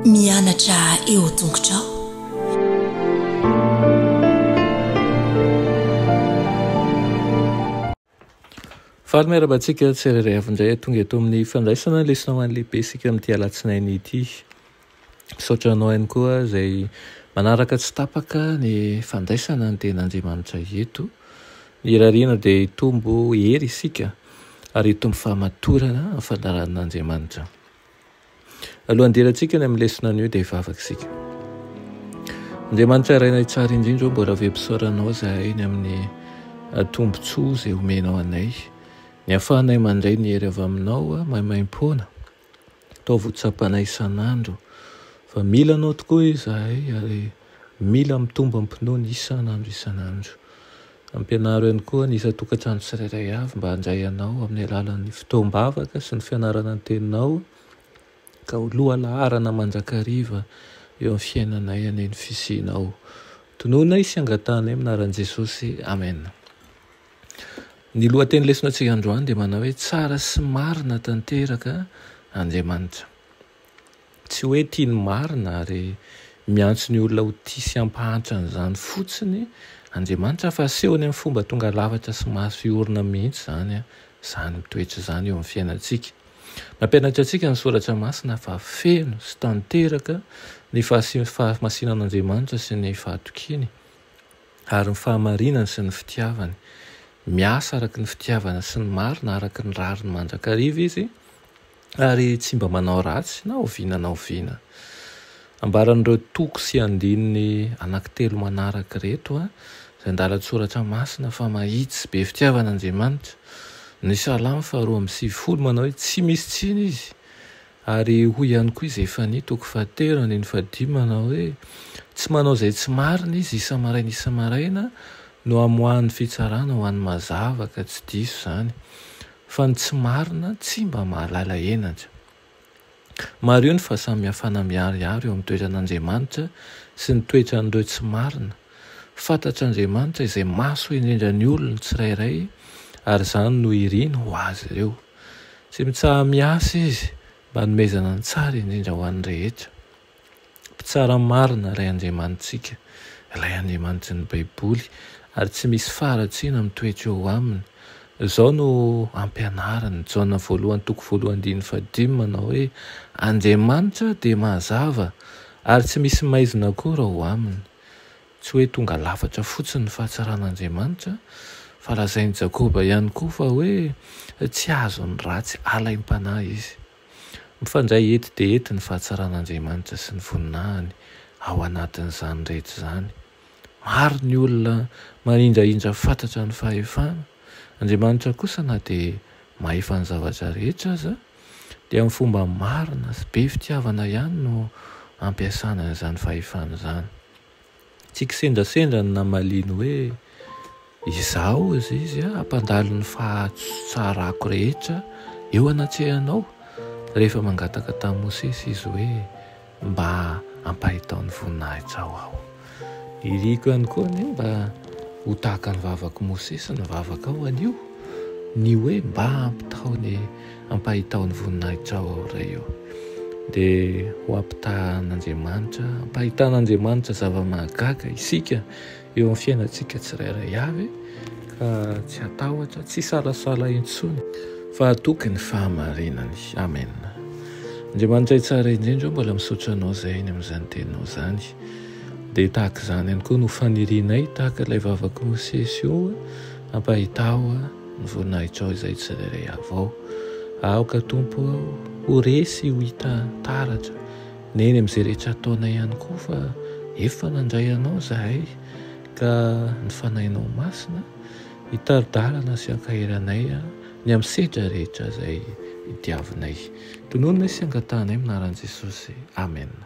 Mianatra eo tongotrao. Faly miarabantsika tsirairay avy indray tonga eto amin'ny fandraisana lesona ho an'ny lehibe isika amin'ity alatsinainy ity. Misaotra anao ihany koa izay manaraka tsy tapaka ny fandraisana ny ten'Andriamanitra eto. Irariana dia hitombo hery isika ary hitombo fahamatorana amin'ny fandaharan'Andriamanitra. Alohan'ny hidirantsika ny amin'ny lesona anio dia hivavaka isika. Andriamanitra iray tsara indrindra ô mbola vempisaora anao izahay ny amin'ny tombontsoa izay omenao anay. Ny ahafahanay mandray ny hery avy aminao maimaim-poana. Ataovy ho tsapanay isan'andro fa mila anao tokoa izahay ary mila mitombo am-pinoana isan'andro isan'andro. Ampianaro ihany koa ny isan-tokantrano tsirairay avy mba handray anao amin'ny alalan'ny fotoam-bavaka sy ny fianarana ny Teninao ka ho lohalaharana mandrakariva eo amin'ny fiainanay anie ny fisianao. Tononay sy angatahanay amin'ny anaran'i Jesosy. Amena. Ny lohateny lesonatsika androany dia manao hoe tsara sy marina tanteraka Andriamanitra. Tsy hoe tia ny marina ary miantso ny olona ho tia sy hampahantra an'izany fotsiny Andriamanitra fa asehony amin'ny fomba tonga lafatra sy maso orina mihitsy izany izany mitoetra izany eo amin'ny fiainantsika. Mampianatra antsika ny Soratra Masina fa feno sy tanteraka ny fahasiam-pahamasinan'Andriamanitra sy ny fahatokiany. Ary ny fahamarinany sy ny fitiavany. Miasa araka ny fitiavana sy ny marina, araka ny rariny mandrakariva Izy, ary tsy mba manao ratsy na oviana na oviana. Ambaran'ireo toko sy andininy anankitelo manaraka ireto izay andalan-tsoratra masina fa mahitsy, be fitiavana Andriamanitra. Ny Salamo faharoa amby sivifolo manao hoe, Tsy misy tsiny Izy, Ary hoy ihany koa i Zefania, toko fahatelo andininy fahadimy, manao hoe, Tsy manao izay tsy marina izy isa-maraina isa-maraina no hamoahany fitsarana ho an'ny mazava, ka tsy diso izany, fa ny tsy marina tsy mba mahalala henatra. Mariho ny fahasamihafana miharihary eo amin'ny toetran'Andriamanitra sy ny toetran'ireo tsy marina. Fantatr'Andriamanitra izay mahasoa indrindra ny olony tsirairay, ary izany no iriny ho azy ireo. Tsy mitsaha-miasa izy mba hanomezana ny tsara indrindra ho an'ny rehetra. Mpitsara marina ilay Andriamanitsika, ilay Andriamanitry ny Baiboly, ary tsy misy faharatsiana mitoetra eo aminy. Izao no ampianariny, Jaona voalohany toko voalohany andininy fahadimy, manao hoe, Andriamanitra dia mazava, ary tsy misy maizina akory ao aminy. Tsy hoe tonga lafatra fotsiny ny fahatsaran'Andriamanitra, fa lazain'i Jakoba ihany koa fa hoe tsy azon'ny ratsy alaim-panahy izy. Mifandray ety dia ety ny fahatsaran'Andriamanitra sy ny voninahiny ao anatin'izany rehetra izany. Maro ny olona manindrahindra fatratra ny fahefana. Andriamanitra kosa na dia mahefa ny zavatra rehetra aza, dia amin'ny fomba marina sy be fitiavana ihany no ampiasany an'izany fahefany izany. Tsy kisendrasendra ny namaliany hoe, Izaho izay izy hampandalo ny fahatsarako rehetra eo anatrehanao, rehefa mangataka tamin'i Mosesy izy hoe, Mba ampahitao ny voninahitsao aho. Iriko ihany koa anie mba ho tahaka ny vavak'i Mosesy ny vavakao anio, ny hoe, Mba ampitaho ny Ampahitao ny voninahitrao aho Ray o, dia ho ampitahan'Andriamanitra, ampahitan'Andriamanitra zava-mahagaga isika eo amin'ny fiainantsika tsirairay avy, ka tsy hatahotra, tsy hisalasala intsony, fa hatoky ny fahamarinany. Amen. Andriamanitray tsara indrindra o, mbola misaotra Anao izay ny amin'izany Teninao izany, dia tahaka izany ihany koa no fanirianay, tahaka ilay vavak'i Mosesy io, ampahitao Ny voninahitrao izay tsirairay avy ao. Aoka, Tompo ô, ho resy ho hita taratra, neny amin'izay rehetra ataonay ihany koa fa efa nandray Anao izahay, ka ny Fanahinao Masina hitari-dalana sy hankahery anay ny amin'ny sedra rehetra izay diavinay. Tonononay sy angatahanay amin'ny anaran'i Jesosy. Amena.